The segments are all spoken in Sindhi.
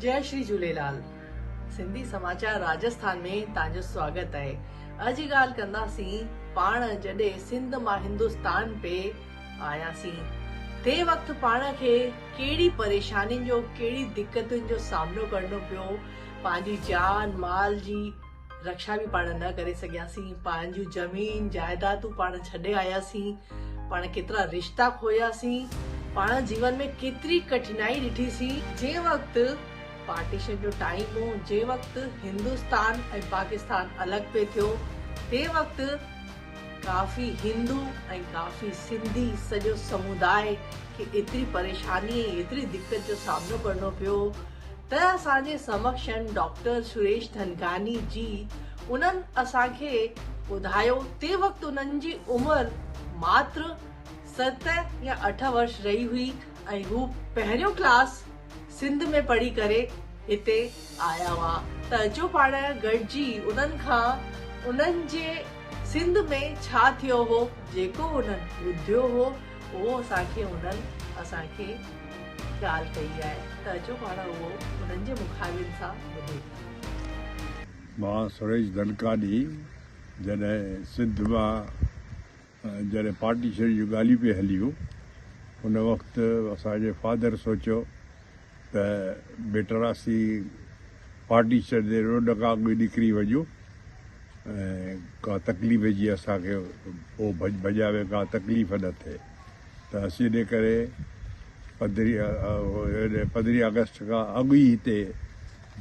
جئي شري جهوليلال سنڌي سماچار راجسٿان ۾ تان جو سواگت اهي اڄ ڳالهه ڪنداسين پاڻ جڏي سنڌ مان هندستان پي آياسين تي وقت پاڻ کي ڪهڙي پريشانين جو ڪهڙي دقتن جو سامنو ڪرڻو پيو پنهنجي جان مال جي رڪشا به پاڻ نه ڪري سگهياسين پنهنجون زمين جائيدادون پاڻ ڇڏي آياسين پاڻ ڪيترا رشتا کوياسين پاڻ جيون ۾ ڪيتري ڪٺنائي ڏٺي سي جنهن وقت پارٽيشن جو ٽائيم هو جنهن وقت هندوستان ۽ پاڪستان الڳ پي ٿيو تنهن وقت ڪافي هندو ۽ ڪافي سنڌي سڄو سموداء کي ايتري پريشاني ۽ ايتري دقت جو سامنو ڪرڻو پيو ته اسان جي سمڪشن ڊاڪٽر سريش ڌنڪاني جي انهن اسان کي ٻڌايو تي وقت انهن جي عمر ماتر ست يا اٺ ورش رهي هئي ۽ هو پهريون ڪلاس سنڌ ۾ پڙهي ڪري هتي آيا هئا ته اچو پاڻ گڏجي انهن کان انهن جي سنڌ ۾ ڇا ٿيو هو جيڪو انهن ٻڌيو هو اهو اسان کي انهن اسان کي ڳالهه ڪئي آهي ته اچو پاڻ اهو انهن جي مخالفن سان ٻڌون. مان سريش ڌنڪاڏي جڏهن سنڌ مان جڏهن پارٽيشن جون ڳالهيون پئي هليون ان وقت اسان جي فادر سوچيو ته بيٽر اسي پارٽيشن جي روڊ کان اڳ ئي نڪري وڃون ۽ ڪا تڪليف جي اسان کي پوء ڀڄ ڀڄا ۾ ڪا تڪليف نه ٿئي ته اسي ان ڪري پندرهين آگسٽ کان اڳ ئي هتي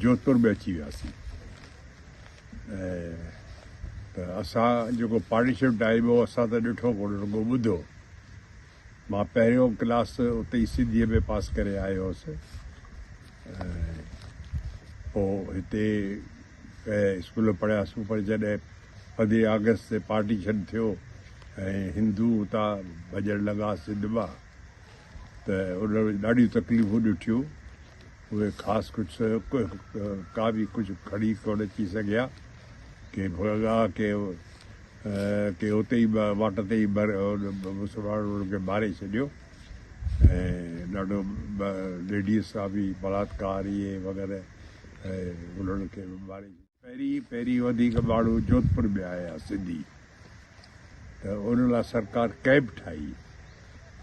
جوڌپور ۾ اچي وياسين. ته اسان جيڪو پارٽيشپ ڊائيب هو اسان ته ڏٺو ڪونه رڳو ٻڌو مان پهريون ڪلاس اتي ئي سنڌيء ۾ پاس ڪري آيو هوس پوء هتي ڪنهن اسڪول ۾ پڙهياس پر جڏهن پندرهين آگسٽ تي پارٽيشن ٿيو ۽ هندو اتان ڀڄڻ لڳا سنڌ مان ته انهن ڏاڍيون تڪليفون ڏٺيون اهي خاص ڪجهه ڪا به ڪجهه کڙي ڪونه اچي سگهيا. ڪي ڀڳا ڪي ڪي اتي ئي واٽ تي ئي مسلمانن انهن کي ماري ڇڏيو ۽ ڏاڍو ليڊيز سان به بلاٿڪاري وغيره انهن کي به ماري ڇڏيو. پهرين پهرين وڌيڪ ٻاڙو جوڌپور ۾ آيا سنڌي ته ان لاء سرڪار ڪئمپ ٺاهي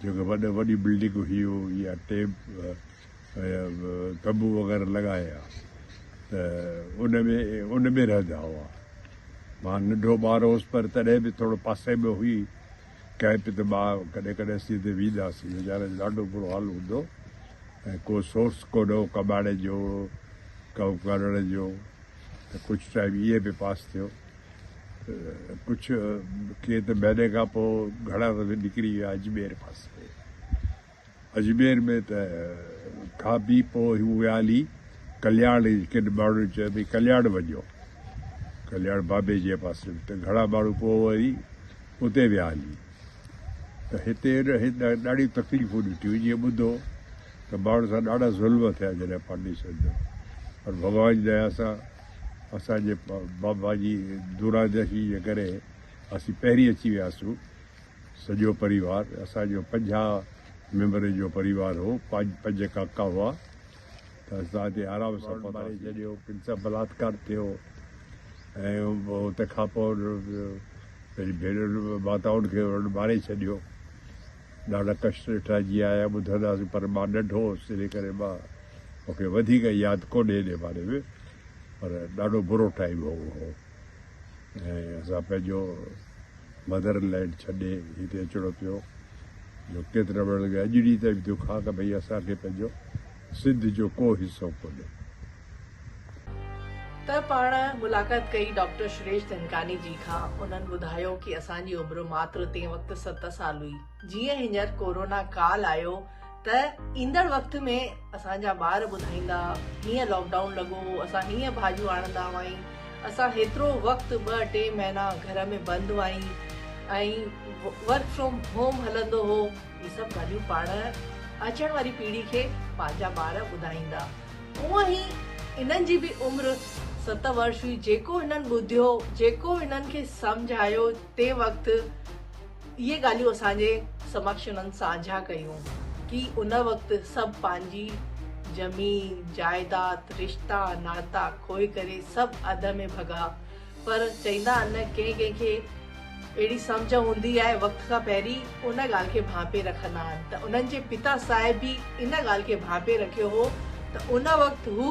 جيڪي وڏ وڏي بلڊنگ هيو يا ٽيپ تنبو وغيره لڳايا ته ان ۾ ان ۾ رهندا هئا مان ننڍو ٻار هوس پر تڏهن به ٿورو پاسي ۾ هئي ڪئمپ ته مان ڪڏهن ڪڏهن اسين اتي وينداسين ويچارن جو ڏاڍو برو حال هوندو ۽ ڪو سورس ڪوڊ هو ڪٻاڙي جو ڪو ڪرڙ جو ته ڪجهه ٽائيم ايئن به پاس ٿيو ڪجهه ڪي ته مهيني کان پوء گهڻا دفعي نڪري ويا اجمير پاسي اجمير ۾ ته کان بي پوء هو ويا هلي ڪلياڻ ڪن ماڻهن چيو ڀي ڪلياڻ وڃو ڪلياڻ بابي جي پاسي ته گهڻا ماڻهو پوء وري اتي ويا هلي ته هتي ڏاڍي تڪليفون ڏٺيون جيئن ٻڌو ته ماڻهن سان ڏاڍا ظلم ٿيا جڏهن پارٽيشن ٿيو پر ڀڳوان جي ديا سان اسان جي بابا جي دورادرشي جي ڪري اسين پهرين اچي وياسون سڄو پريوار اسان جو پنجاهه ميمبرن جو پريوار هو پنج پنج ڪاڪا هئا ته اسان تي آرام سان پهتاسين. جڏهن ڪن سان بلاٿڪار ٿيو ۽ تنهن کان پوء پنهنجي ڀينرن ماتائن کي انهن ماري ڇڏيو. ڏاڍا ڪشٽ ڏٺا جيئن آيا ٻڌنداسين پر مان ننڍو هوس تنهن ڪري مان مون کي وڌيڪ ياد ڪونهي انهي باري ۾ پر ڏاڍو برو ٽائيم هو اهو. ۽ اسان پنهنجو مدر لينڊ ڇڏي هتي اچڻو پيو جو ڪيت رهڻ لڳي اڄ ڏينهن تائين به ٿيو کان ته ڀئي اسان کي پنهنجو سنڌ جو ڪو حصو ڪونهي. ته پاڻ ملاقات ڪئي ڊاڪٽر شريش دهنڪاني جي کان انهن ٻڌايو ڪي اسان جي عمر ماتر تين وقت ست سال هئي. جيئن هينئر ڪورونا ڪال آيو ته ايندڙ وقت ۾ اسان جا ٻار ٻڌائيندا هيئن لاڪ ڊائون لڳو هو اسان هيئن ڀاڄيون آڻندا هئائين اسان هيترو وقت ٻه ٽي مهينا گهر ۾ بند هئائين ۽ ورڪ فرام هوم هلندو هو هي سڀ ڳالهيون پاڻ اچڻ واري پيڙهي کي پنهنجا ٻار ٻڌائيندا اونئن هي انهن جي به عمر ست ورش هئي جيڪو هنن ٻڌيو جيڪو هنن کي سمجهايو تنهن وقت اهي ڳالهيون اسان جي سمڪش انهن ساجها ڪيون ڪي ان وقت سڀ پنهنجي زمين، جائداد، رشتا، ناتا کوهي ڪري سڀ اڌ ۾ ڀڳا پر چئيندا ان ڪنهن ڪنهن کي اهڙي سمجهه هوندي آهي وقت کان پهرين ان ڳالهه کي ڀانپي رکندا آهن ته انهن جي پتا صاحب به ان ڳالهه کي ڀانپي رکيو هو ته ان وقت هو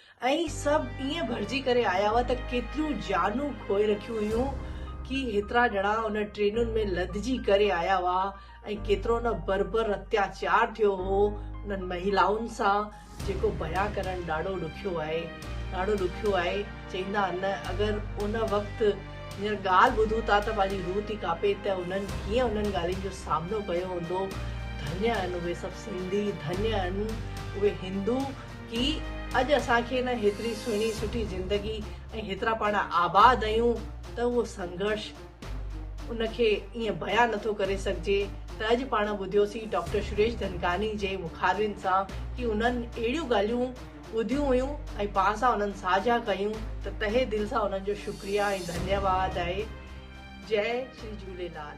۽ سڀ ائين ڀرجي ڪري آيا هئا ته ڪيتريون جانون کوئي رکيون هيون ڪي هيترا ڄڻا ان ٽرينن ۾ لڌجي ڪري آيا هئا ۽ ڪيترو نه بربر اتياچار ٿيو هو انهن مهلائن سان جيڪو بيان ڪرڻ ڏاڍو ڏکيو آهي ڏاڍو ڏکيو آهي چئيندا آهن نه اگر ان وقت هينئر ڳالهه ٻڌون ٿا ته پنهنجي روح ٿي ڪاپي ته انهن ڪيئن انهن ڳالهين جو سامنو ڪيو هوندو ڌنيا آهن اهي سڀ سنڌي ڌنيا آهن اهي هندو ڪي اڄ اسان کي نه هيتري سهڻي سٺي زندگي ۽ هيترا پاڻ آباد اهيون ته اهو سنگهرش ان کي ائين بيان نٿو ڪري سگهجي ته اڄ پاڻ ٻڌيوسين ڊاڪٽر شريش ڌنڪاني جي مخالفن سان ڪي انهن اهڙيون ڳالهيون ٻڌيون هيون ۽ پاڻ سان انهن ساجها ڪيون ته تهه دل سان انهن جو شڪريا ۽ ڌنيواد آهي جئه شري جهوليلال.